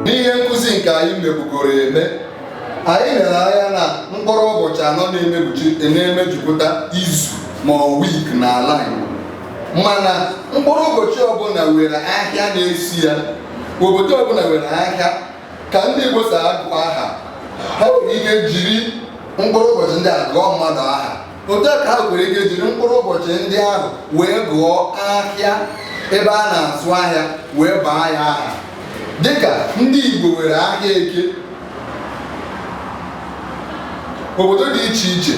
n'ihe nkụzi nke anyị mebugoro eme anyị lere anya na mkpụrụ ụbọchị anọ na-emejupụta izu ma ọ wik n'ala Igbo mana mkpụrụ ụbọchị ọbụla were ahịa na-eso ya obodo ọbụla were ahịa ka ndị Igbo si agụ aha ha nwere ike jiri mkpụrụ ụbọchị ndị a gụọ mmadụ aha otu a ka ha nwere ike jiri mkpụrụ ụbọchị ndị ahụ wee gụọ ahịa ebe a na-azụ ahịa wee baa ya aha dịka ndị Igbo nwere ahịa eke obodo dị iche iche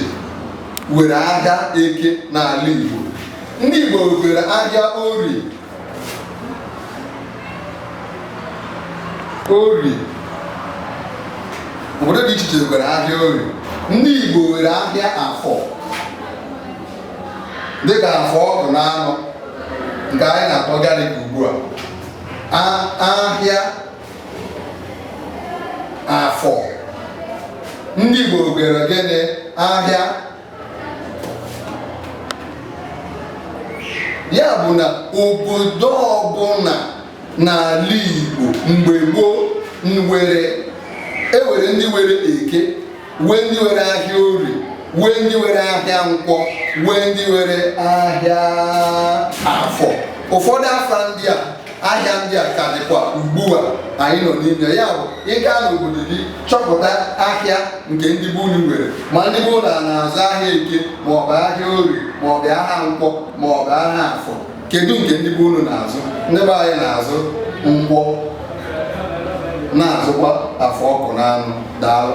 nwere ahịa eke n'ala Igbo ndị Igbo nwere ahịa orie ori obodo dị iche iche nwere ahịa ori ndị Igbo nwere ahịa afọ dịka afọ Ọkụnanọ nke anyị na-akpọ Gariki ugbu a ahịa afọ ndị Igbo nwere gịnị ahịa ya bụ na obodo ọbụla n'ala Igbo mgbe gboo nwere e were ndị were eke wee ndị were ahịa ori wee ndị were ahịa nkwọ wee ndị were ahịa afọ ụfọdụ afa ndị a ahịa ndị a ka dịkwa ugbu a anyị nọ n'ime ya bụ ị gaa n'obodo gị chọpụta ahịa nke ndị be unu nwere ma ndị be unu na-azụ ahịa eke maọbụ ahịa ori maọbụ ahịa nkwọ maọbụ ahịa afọ kedu nke ndị be unu na-azụ ndị be anyị na-azụ nkwọ na-azụkwa afọ Ọkụnanọ daalụ